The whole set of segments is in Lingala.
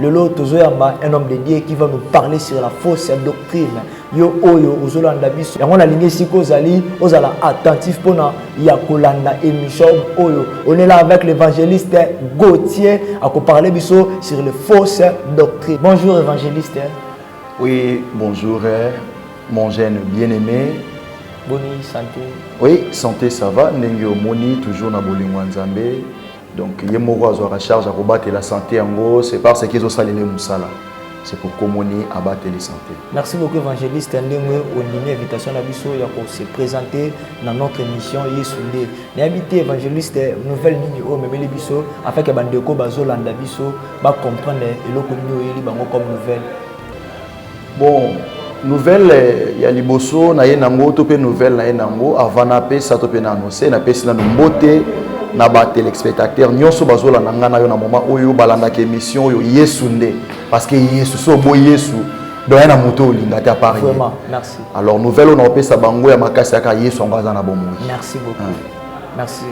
lelo tozoyamba un homme de dieu qui va nous parler sur la fausse doctrine yo oyo ozolanda biso yango nalingi esika ozali ozala attentif mpona ya kolanda émission oyo on est là avec l'évangéliste gautier akoparle biso sur les fausses doctrines bonjour évangéliste oui bonjour mon jeune bien aimé boni santé oui santé ça va ndenge omoni toujours na bolingo ya nzambe donc ye moko azwaka charge ya kobatela sante yango c'est parce que ezosalela ye mosala c'est pour komoni abateli sante merci beaucoup évangéliste ndenge ondimi invitation na biso ya kose présenter na notre émission yesu nde nayebi te évangéliste nouvelle nini oyo omemeli biso afin ke bandeko bazolanda biso bacomprendre eloko nini oyeli bango comme nouvelle Bon, nouvelle ya liboso na ye nango to mpe nouvelle na ye nango avant napesa to mpe na annonce napesi nano mbote na ba téléspectateurs nyonso bazolanda ngai na yo na moment oyo balandaka émission oyo yesu nde parce que yesu so obo yesu doya na moto oyo olinga te apart ye alors nouvelle oyo naopesa bango ya makasi yaka yesu yango aza na bomoi merci beaucoup merci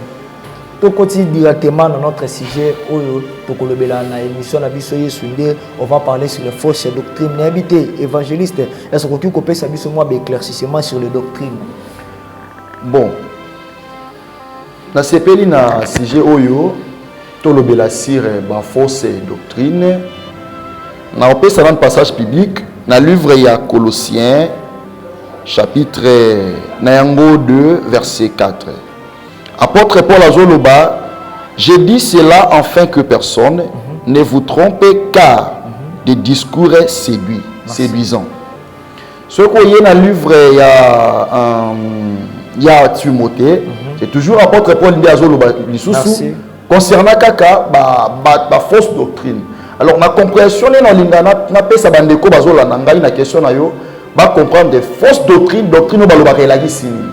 tokoti directement na notre sujet oyo tokolobela na émission na biso yesu nde on va parler sur les fausses doctrines nayebi te évangéliste est-ce okoki kopesa biso mwa baéclaircissement sur les doctrines bon nasepeli na sujet oyo tolobela sur eh, bafausses doctrine nakopesa nanu passage public na livre ya colossien chapitre na yango 2 verset 4 Apotre Paul azoloba je dis cela enfin que personne mm -hmm. ne vous trompe car mm -hmm. des discours est séduit séduisant soki oye na livre ya um, ya Timothée mm -hmm. c'est toujours apôtre Paul nde azoloba lisusu concernant kaka ba, ba, ba fausse doctrine alors na compréhension nde nalinga napesa bandeko bazolanda ngai na question na yo bacomprendre fausse doctrine doctrine oyo balobaka elakisi nini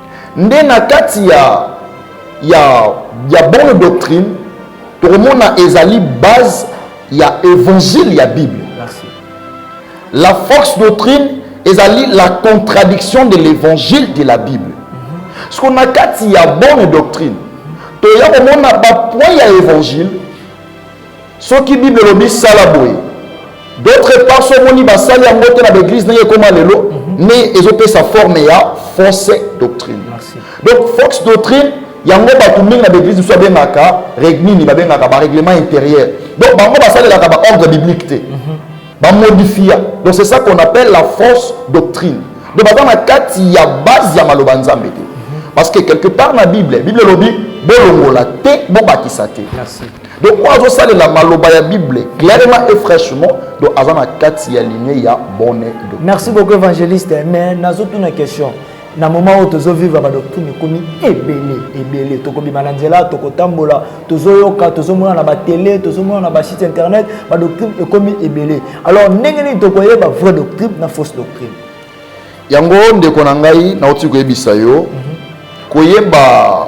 nde na kati ya, ya, ya bonne doctrine tokomona ezali base ya évangile ya bible Merci. la force doctrine ezali la contradiction de l'évangile de la bible mm-hmm. siko na kati ya bonne doctrine toya komona bapoint ya évangile Soki Bible elobi sala boye. D'autre part, so moni basali yango te na ba église ndenge ekoma lelo, mhm. mais ezopesa forme ya fausse doctrine. Donc fausse doctrine yango bato mingi na baeglise mosusu babengaka nini babengaka barèglement intérieur donc bango basalelaka baordre biblique te mhm. bamodifia donc c'est ça qu'on appelle la fausse doctrine donc baza na kati ya base ya maloba nzambe te mhm. parce que quelque part na bible bible elobi bolongola te bobakisa te donc oyo azosalela maloba ya bible clairement et fraîchement donc aza na kati ya ligne ya bonne doctrine merci beaucoup évangéliste mais nazotuna question na moment oyo tozovivre badoctrine ekomi ebele ebele tokobima na nzela tokotambola tozoyoka tozomona na batele tozomona na basite internet badoctrine ekomi ebele alors ndenge nini tokoyeba vraie doctrine na fausse doctrine yango ndeko na ngai nauti koyebisa yo mhm. koyeba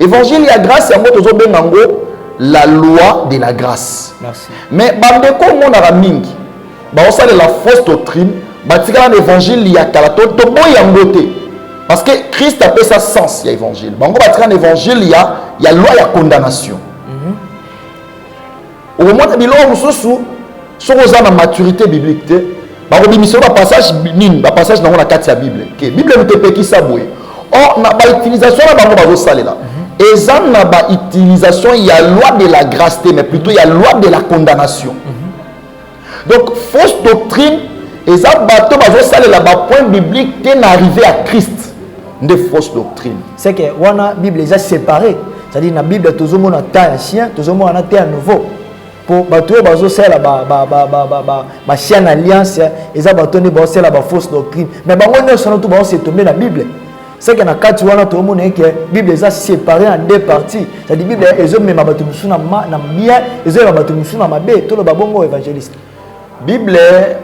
Évangile ya grâce yango tozobenga yango la loi de la grâce. Merci. Mais bandeko omonaka mingi baosalela fausse doctrine batikala na évangile ya kala to toboyi yango te parce que christ apesa sens ya évangile bango batikala na évangile ya, ya loi ya condamnation mm -hmm. okomona biloko mosusu soki oza na maturité biblique te bakobimisa yo bapassage nini bapassage nango na kati ya bible ke bible moto epekisa boye or na bautilisation na bango bazosalela mhm. eza na bautilisation ya loi de la grâce te mais plutôt ya loi de la condamnation mhm. donc fausse doctrine eza bato bazosalela bapoint biblique te na arrive ya christ nde fausse doctrine c'est que wana bible eza séparé c'est-à-dire na bible tozomona temps ancien tozomona na temps nouveau mpo bato oyo bazosalela bachien na alliance eza bato nde baosala bafausse doctrine mais bango nyonso na to baosetombe na bible seke na kati wana toomona eke bible eza séparé en deux parties cetadi bible ezomema bato mosusu na bien ezoyeba bato mosusu na mabe toloba bongo évangéliste bible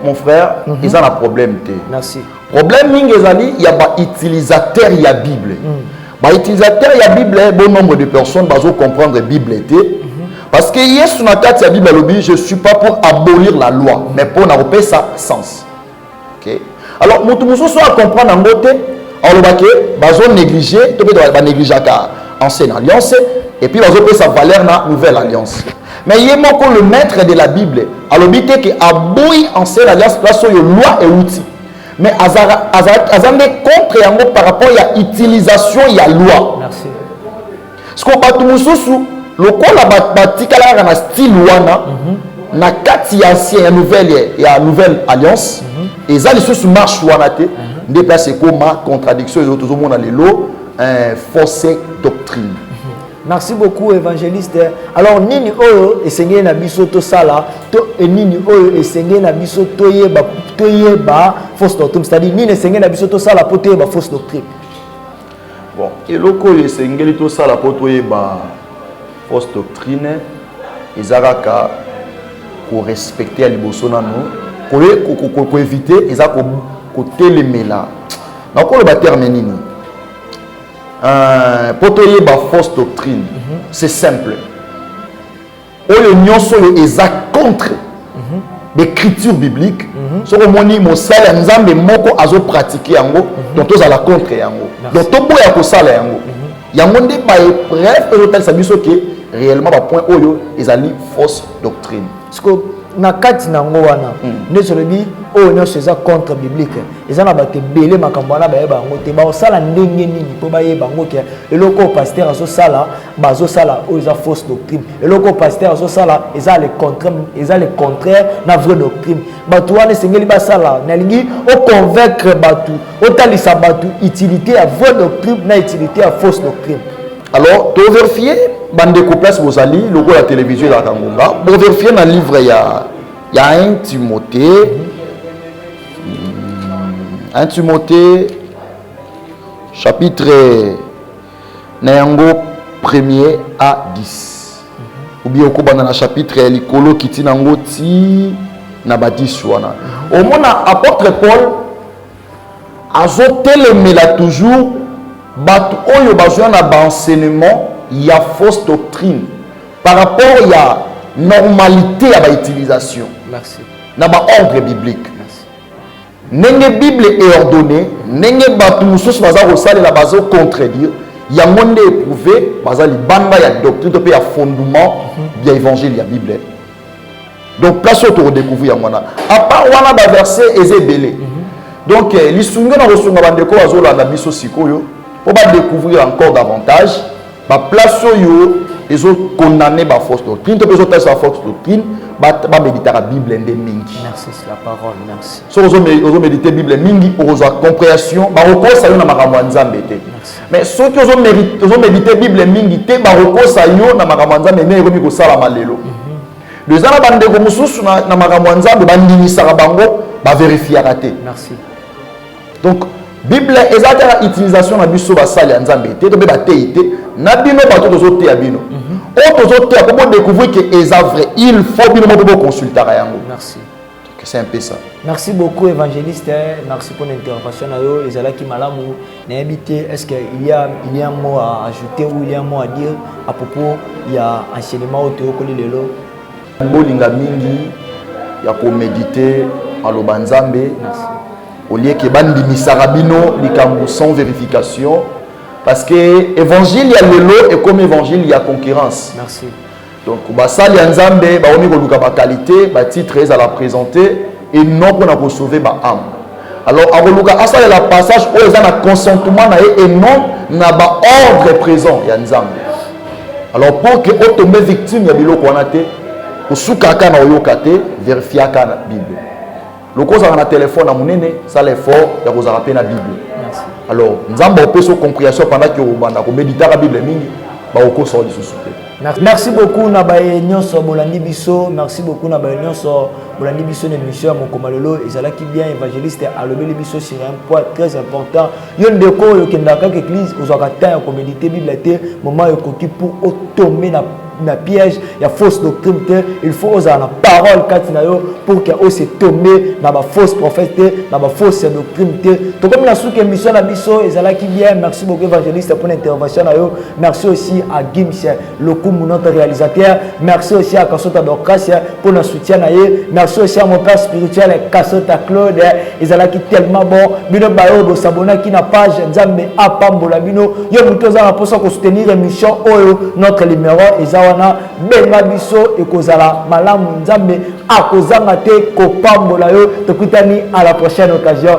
mon frère mm -hmm. eza na problème te merci problème mingi ezali ya bautilisateur ya bible mm. bautilisateur ya bible bon nombre de personnes bazocomprendre bible te mm -hmm. parce que yesu na kati ya bible alobi je suis pas pour abolir la loi mais mpo na kopesa sens Okay. Alors moto mosusu a comprendre yango te aloba ke bazo néglige to mpe banegligeaka ancienne alliance et puis bazopesa valeur na nouvelle alliance mais ye moko le maître de la bible alobi te ke aboyi ancienne alliance place oyo loi euti mais aza nde contre yango par rapport ya utilisation ya loi Merci. siko bato mosusu lokola batikala kaka na style wana mm -hmm. na kati ya ancien ya nouvelle ya nouvelle alliance mm -hmm. eza lisusu marche wana te mm -hmm. nde place ekoma contradiction ezo tozomona lelo eh, fausse doctrine mhm. merci beaucoup évangéliste alors nini oyo esengeli na biso tosala to e nini oyo esengeli na biso toyeba toyeba fausse doctrine c'est-à-dire nini esengeli na biso tosala mpo toyeba fausse doctrine Bon, eloko oyo esengeli tosala mpo toyeba fausse doctrine eza kaka korespecte ya liboso nano koevite eza kotelemela nakoloba terme nini mpo euh, toyeba fausse doctrine mhm. c'est simple oyo nyonso oyo eza contre mhm. becriture biblique mhm. soki omoni mosali ya nzambe moko azopratike yango mhm. donc tozala contre yango donc toboya kosala yango yango nde baepreuve oyo ezotalisa biso ke réellement bapoint oyo ezali fausse doctrine siko na kati na yango wana hmm. nde tolobi oyo nyonso eza contre biblique eza na bato ebele makambo wana bayeba yango te baosala ndenge nini mpo bayeba yango ke eloko oyo paster azosala bazosala oyo eza fausse doctrine eloko pasteur azosala eza le contraire eza le contraire na vraie doctrine bato wana esengeli basala nalingi oconvaincre bato otalisa bato utilité ya vraie doctrine na utilité ya fausse doctrine alors toverifie bandeko place bozali lokola televizio ezalaka ngonga boverifie na livre ya ya 1 timote 1 timote chapitre na yango premier a 10 oubien okobanda na chapitre ya likolo kiti na yango ti na ba 10 wana omona apôtre paul azotelemela toujours bato oyo bazwa na baenseignement ya fausse doctrine par rapport ya normalité ya bautilisation na baordre biblique Ndenge Bible e ordonner, ndenge batu mosusu baza kosalela bazo contredire, yango nde e prouver baza libanda ya doctrine to pe ya fondement ya evangile ya Bible. Donc place oyo toko decouvrir yango wana. A part wana ba verset eza ebele. Donc eh, lisungi na kosunga bandeko bazolanda biso sikoyo po ba decouvrir encore davantage ba place oyo ezo condamner ba fausse doctrine to ezo tasa fausse doctrine ba ba méditaka bible nde mingi merci c'est la parole merci so ozo ozo méditer bible mingi ozo compréhension ba kokosa yo na makambo ya nzambe te mais soki ozo méditer ozo méditer bible mingi te ba kokosa yo na makambo ya nzambe ndenge ekomi kosala malelo mhm. eza na bandeko mosusu na makambo ya nzambe bandimisaka bango baverifiaka te merci donc bible eza te na utilisation na biso basali ya nzambe te to mpe bateyi te na bino bato tozoteya bino mhm. oyo tozoteya mpo bodécouvrir ke eza vrai il faut bino moko boconsultaka yango merci c'est un peu ça merci beaucoup évangéliste hein. merci pour l'intervention na yo ezalaki malamu nayebi te est ce que il y a il y a un mot à ajouter ou il y a un mot à dire à propos ya enseignement oyo toyokoli lelo Bolinga mingi ya ko mediter maloba Nzambe au lieu que bandimisaka bino likambo sans verification parce que évangile ya lelo ekomi évangile ya concurrence. Merci. Donc basali ya Nzambe baomi koluka ba qualité, ba titre ezala présenter et non pona ko sauver ba âme. Alors akoluka asalela passage oyo eza na consentement na ye et non na ba ordre présent ya Nzambe. Alors pour que otombe victime ya biloko wana te, osukaka na oyoka te, verifiaka na Bible. Loko ozalaka na telefone ya monene, sala effort ya kozala mpe na Bible. Alors Nzambe opesi comprehension pendant que obanda komeditaka Bible mingi, bakokosa yo lisusu te. Merci beaucoup na baye nyonso bolandi biso merci beaucoup na baye nyonso bolandi biso na émission ya mokoma lelo ezalaki bien évangéliste alobeli biso sur un point très important yo ndeko oyo okendaka kaka église ozwaka temps ya komédite bible te moment ekoki pour otombe na na piège ya fausse doctrine te il faut ozala na parole kati na yo pour que ose tombe na bafausse prophète te na bafausse doctrine te tokomi na suka émission na biso ezalaki bien merci beaucoup évangéliste mpo na intervention na yo Merci aussi à Gims Lokumu, notre réalisateur. Merci aussi à Kasota Dorcas pour notre soutien. Merci aussi à mon père spirituel Kasota Claude. Ils allaient tellement bon. Bino Bayo, vous s'abonnez qui n'a page. Nzambe a pambola bino. Yo muto za na posa ko soutenir émission oyo notre numéro ezawana benga biso et kozala malamu Nzambe a kozanga te ko pambola yo. Tokutani à la prochaine occasion.